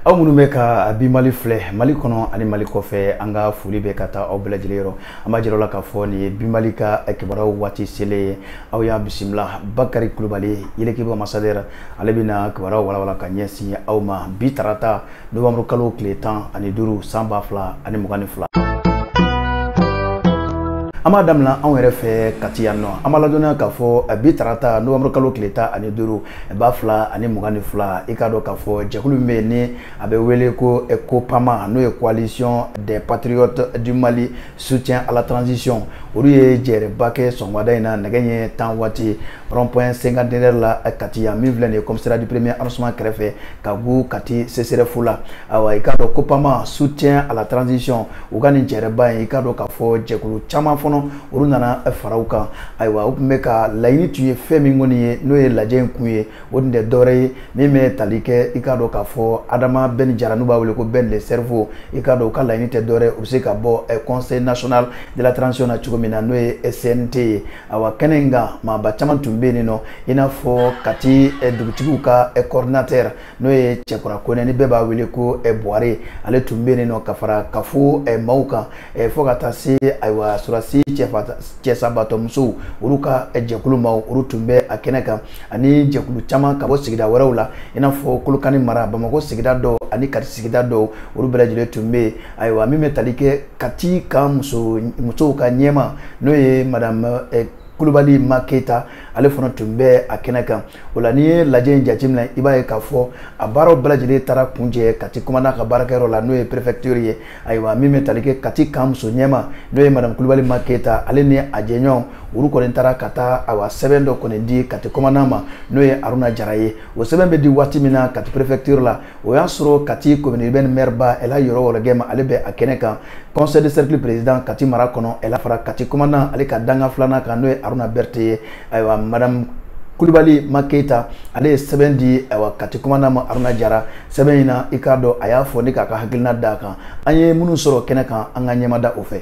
aw minnu bɛ ka a bi mali filɛ mali kɔnɔ ani mali kɔfɛ an ka foli bɛ ka taa aw bɛɛ lajɛlen yɔrɔ an b'a jira la k'a fɔ nin ye bi mali ka kibaruyaw waati selen ye aw y'a bisimila bakari kulubali yɛlɛkiba ambassadeur ale bɛna kibaruyaw walawala ka ɲɛsin aw ma bi tarata nowanburu kalo tile tan ani duuru san ba fila ani mugan ni fila an b'a damina anw yɛrɛ fɛ kati yan nɔ an b'a ladɔnniya k'a fɔ eh, bi tarata nowanburu kalo tile tan ani duuru eh, ba fila ani mugan ni fila i k'a dɔn k'a fɔ jɛkulu min bɛ yen ni a bɛ wele ko eh, copama n'o ye coalition des patriotes du mali soutien à la transition olu ye jɛrɛba kɛ sɔgɔmada in na nɛgɛ ɲɛ tan waati rond-point cinquantenaire la eh, Kati yan min filɛ nin ye commissariat du premier arrondissement kɛrɛfɛ ka gu Kati CSRéf la awa i k'a dɔn COPAMA soutien à la transition u ka nin jɛrɛba in i k'a dɔn k'a fɔ jɛkulu caman fɔnɔ olu nana eh, fara u kan ayiwa u tun bɛ ka laɲini tun ye fɛn min kɔni ye n'o ye lajɛ in kun ye o tun tɛ dɔwɛrɛ ye min bɛ tali kɛ i k'a dɔn k'a fɔ Adama Bɛn Jara n'u b'a wele ko Bɛn le cerveau i k'a dɔn u ka laɲini tɛ dɔwɛrɛ u bɛ se ka bɔ eh, conseil national de la transition na cogo min na n'o ye CNT ye awa kɛnɛ in kan maaba caman tun bɛ yen nɔ i n'a fɔ kati eh, dugutigiw ka eh, coordinateur n'o ye cɛkura konɛ ni bɛɛ b'a wele ko eh, buware ale tun bɛ yen nɔ ka fara kafo maaw kan fo ka taa se ayiwa sɔrɔdasi cɛsabaatɔ musow olu ka jɛkulu maaw olu tun bɛ a kɛnɛ kan ani jɛkulu caman ka bɔ sigida wɛrɛw la i n'a fɔ kolokani mara bamakɔ sigida dɔw ani kati sigida dɔw olu bɛɛ lajɛlen tun bɛ yen ayiwa min bɛ tali kɛ kati ka muso musow ka ɲɛmaa n'o ye madame eh, kulubali ma keyita ale fana tun bɛ a kɛnɛ kan o la n'i ye lajɛ in jateminɛ i b'a ye k'a fɔ a baaraw bɛɛ lajɛlen taara kuncɛ kati kɔmanda ka baarakɛyɔrɔ la n'o ye prefecture ye ayiwa min bɛ tali kɛ kati kan muso ɲɛmaa n'o ye madame kulubali ma keyita ale ni a jɛɲɔgɔnw olu kɔni taara ka taa awa sɛbɛn dɔ kɔni di kati kɔmanda ma n'o ye aruna jara ye o sɛbɛn bɛ di waati min na kati prefecture la o y'a sɔrɔ kati commune urbaine maire ba ɛla yɔrɔ wɔlɔgɛm ale bɛ a kɛnɛ kan conseil de cercle président kati mara kɔnɔ ale fara kati commandant ale ka dankan filanan kan n'o ye aruna berthe ye ayiwa madame kulubali ma keyita ale ye sɛbɛn di ayiwa kati commandant ma aruna jara sɛbɛn in na i k'a dɔn a y'a fɔ ni k'a ka hakilina d'a kan an ye minnu sɔrɔ kɛnɛ kan an ka ɲɛmada o fɛ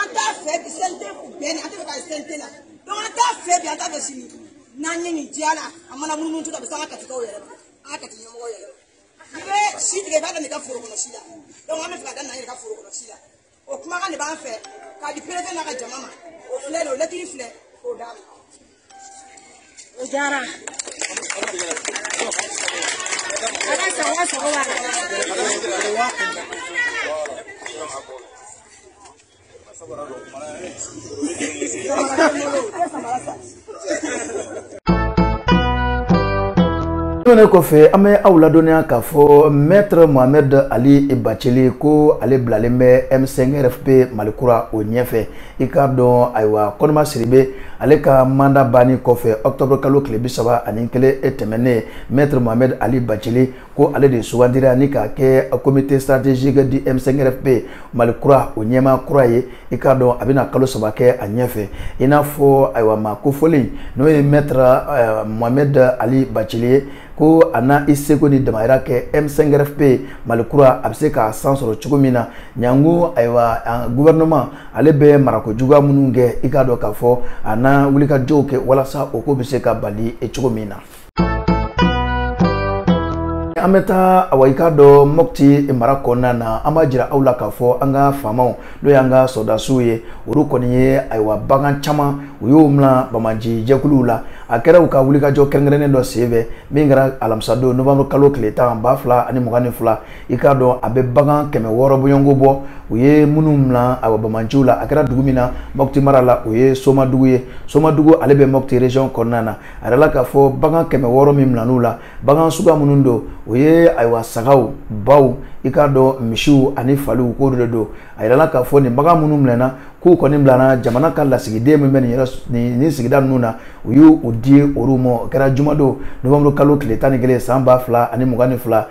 an t'a fɛ bi CNT ko Bɛn an t'a fɛ ka CNT la donc an t'a fɛ bi an t'a fɛ sini n'an ye nin diya la a mana munumunu tu a bɛ se an ka katikaw yɛrɛ ma an ka kati ɲɛmɔgɔ yɛrɛ ma i bɛ si tigɛ i b'a daminɛ i ka foro kɔnɔ si la donc an bɛ fɛ ka daminɛ an yɛrɛ ka foro kɔnɔ si la o kumakan de b'an fɛ k'a di perefe n'a ka jama ma o filɛ de o lɛtiri filɛ k'o d'a ma o diyara ala sago aw sago b'a tɛmɛnen kɔfɛ an bɛ aw ladɔnniya k'a fɔ maître mohamed ali bacili ko ale bilalen bɛ m5 rfp malikura o ɲɛfɛ i k'a dɔn ayiwa konimba sidibe ale ka mandat banni kɔfɛ octobre kalo tile bi saba ani kelen e tɛmɛnen maître mohamed ali bacili ko ale de sugandira ni k'a kɛ comité stratégique du m5rfp mali kura o ɲɛmaa kura ye i k'a dɔn a bɛna kalo saba kɛ a ɲɛfɛ i n'a fɔ ayiwa maa kofɔlen n'o ye maître euh, mohamed ali bacili ye ko a na i seko ni damayira kɛ m5rfp mali kura a bɛ se ka san sɔrɔ cogo min na Ɲanko ayiwa gouvernement ale bɛ marako juguya minnu kɛ i k'a dɔn k'a fɔ a na wulikajɔw kɛ walasa o ko bɛ se ka bali cogo min na. an bɛ taa awa i k'a dɔn mɔpti mara kɔnɔna na an b'a jira aw la k'a fɔ an ka faamaw n'o y'an ka sɔrɔdasiw ye olu kɔni ye ayiwa bagan caman u y'o mina banbaanci jɛkuluw la a kɛra u ka wulikajɔ kɛrɛnkɛrɛnnen dɔ senfɛ min kɛra alamisadon novembre kalo tile tan ba fila ani mugan ni fila i k'a dɔn a bɛ bagan kɛmɛ wɔɔrɔ bɔɲɔgɔnko bɔ u ye minnu mina awa banbaanciw la a kɛra dugu min na mɔputi mara la o ye somadugu ye somadugu ale bɛ mɔputi region kɔnɔna na a yirala k'a fɔ bagan kɛmɛ wɔɔrɔ min minan'u la bagan suguya minnu don o ye ayiwa sagaw baw i k'a dɔn misiw ani faliw k'o de don a yirala k'a fɔ nin bagan minnu minɛna k'u kɔni bilana jamana ka lasigiden min bɛ nin sigida ninnu na u y'u di olu ma o kɛra jumadon novembre kalo tile tan ni kelen san ba fila ani mugan ni fila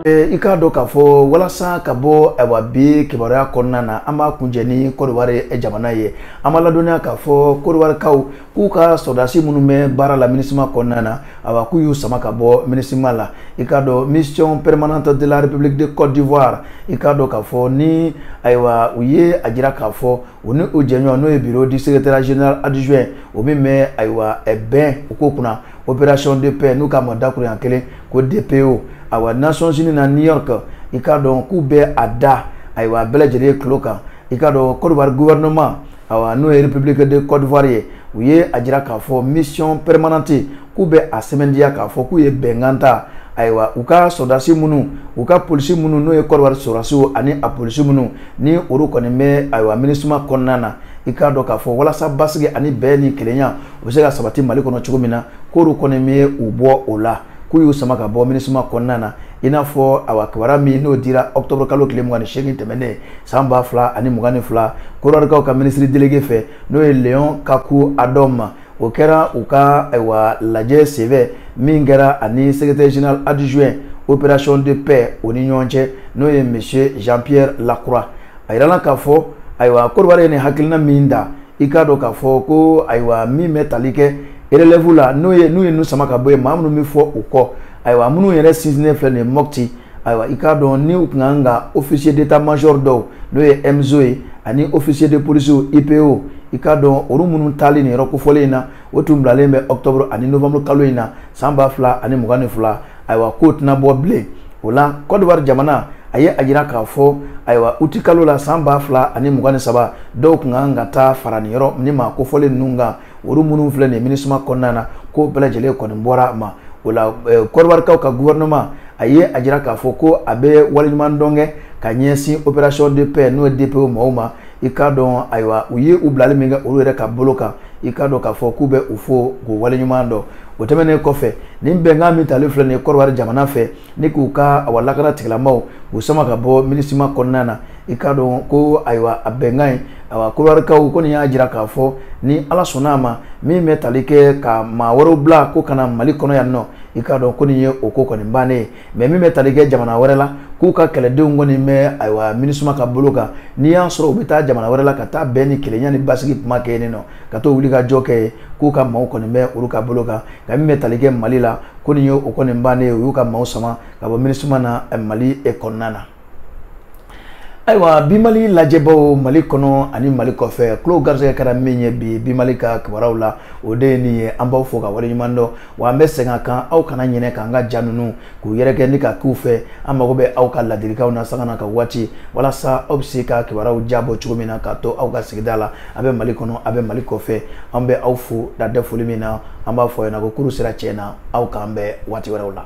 i k'a dɔn k'a fɔ walasa ka bɔ ayiwa bi kibaruya kɔnɔna na an b'a kuncɛ ni kɔdiwari jamana ye an b'aw ladɔnniya k'a fɔ kɔdiwarikaw k'u ka sɔrɔdasi minnu bɛ baara la minusma kɔnɔna na awa k'u y'u sama ka bɔ minusma la i k'a dɔn mission permanente de la république de côte d'ivoire i k'a dɔn k'a fɔ ni ayiwa u ye a jira k'a fɔ u ni u jɛɲɔgɔn n'o ye bureau du secrétaire général adjoint o min bɛ ayiwa bɛn ko kunna opération de paix n'u k'a ma dakuruɲɛ kelen ko dpo awa nations unies na new york i k'a dɔn k'u bɛ a da ayiwa a bɛɛ lajɛlen tulo kan i k'a dɔn côte d'ivoire gouvernement awa n'o ye république de Côte d'Ivoire ye u ye a jira k'a fɔ mission permanente k'u bɛ a sɛmɛntiya k'a fɔ k'u ye bɛnkan ta ayiwa u ka sɔrɔdasi minnu u ka polisi minnu n'o ye Côte d'Ivoire sɔrɔdasiw ani a polisi minnu ni olu kɔni bɛ ayiwa MINUSMA kɔnɔna na i k'a dɔn k'a fɔ walasa basigi ani bɛn ni kelenya u bɛ se ka sabati Mali kɔnɔ cogo min na k'olu kɔni bɛ u bɔ o la. k'u y'u sama ka bɔ minisuma kɔnɔna na i n'a fɔ a kibaruya min n'o dira octobre kalo tile mugan ni seegin tɛmɛnen san ba fila ani mugan ni fila kɔdiwarikaw ka ministre délégué fɛ n'o ye léon kacou adom ma o kɛra u ka ayiwa lajɛ senfɛ min kɛra ani secrétaire général adjoint opération de paix o ni ɲɔgɔn cɛ n'o ye monsieur jean pierre lacroix a yirala k'a fɔ ayiwa kɔdiwari ye nin hakilina min ta i k'a dɔn k'a fɔ ko ayiwa min bɛ tali kɛ relève la n'o ye n'u ye ninnu sama ka bɔ yen maa minnu bɛ fɔ u kɔ ayiwa minnu yɛrɛ sinsinnen filɛ nin ye mɔpti ayiwa i k'a dɔn ni u tun kan ka officier d'état major dɔw n'o ye MZO ye ani officier de police IPO i k'a dɔn olu minnu taali nin yɔrɔ kofɔlen in na o tun bilalen bɛ octobre ani novembre kalo in na san ba fila ani mugan ni fila ayiwa k'o tɛna bɔ bilen o la côte d'ivoire jamana a ye a jira k'a fɔ ayiwa uti kalo la san ba fila ani mugan ni saba dɔw tun ka kan ka taa fara nin yɔrɔ ni maa kofɔlen ninnu kan olu minnu filɛ nin minisuma kɔnɔna na k'o bɛɛ lajɛlen kɔni bɔra a ma o la kɔdiwarikaw eh, ka gouvernement a ye a jira k'a fɔ ko a bɛ waleɲuman dɔn kɛ ka ɲɛsin opération de paix n'o ye DPO maaw ma i k'a dɔn ayiwa u ye u bilali min kɛ olu yɛrɛ ka bolo kan i k'a dɔn k'a fɔ k'u bɛ u fo k'u waleɲuman dɔn o tɛmɛnen kɔfɛ nin bɛnkan min talen filɛ nin ye kɔdiwari jamana fɛ ni k'u ka awa lakana tigilamaw k'u sama ka bɔ minisima kɔnɔna na i k'a dɔn ko ayiwa a bɛnkan in awa kɔdiwarikaw ko nin y'a jira k'a fɔ ni ala sɔnna a ma min bɛ tali kɛ ka maa wɛrɛw bila ko ka na mali kɔnɔ yan nɔ i k'a dɔn ko nin ye o ko kɔni bannen ye mais min bɛ tali kɛ jamana wɛrɛ la k'u ka kɛlɛdenw kɔni bɛ ayiwa minisuma ka bolo kan n'i y'a sɔrɔ u bɛ taa jamana wɛrɛ la ka taa bɛn ni kelenya ni basigi kuma kɛ yen nɔ ka to wulikajɔ kɛ yen k'u ka maaw kɔni bɛ olu ka bolo kan nka min bɛ tali kɛ mali la ko nin ye o kɔni bannen ye u y'u ka maaw sama ka bɔ minisuma na mali kɔnɔna na ayiwa bi mali lajɛbaw mali kɔnɔ ani mali kɔfɛ tulo garisɛgɛ kɛra min ye bi bi mali ka kibaruyaw la o de ye nin ye an b'aw fo k'aw waleɲuman dɔn wa an bɛ segin a kan aw kana ɲinɛ k'an ka ja ninnu k'u yɛrɛkɛ ni ka k'u fɛ an mago bɛ aw ka ladilikanw na sanga na ka waati walasa aw bɛ se ka kibaruyaw diyabɔ cogo min na ka to aw ka sigida la a bɛ mali kɔnɔ a bɛ mali kɔfɛ an bɛ aw fo dan tɛ foli min na an b'a fɔ aw ɲɛna ko kurun sera tiɲɛ na aw k'an bɛn waati wɛrɛw la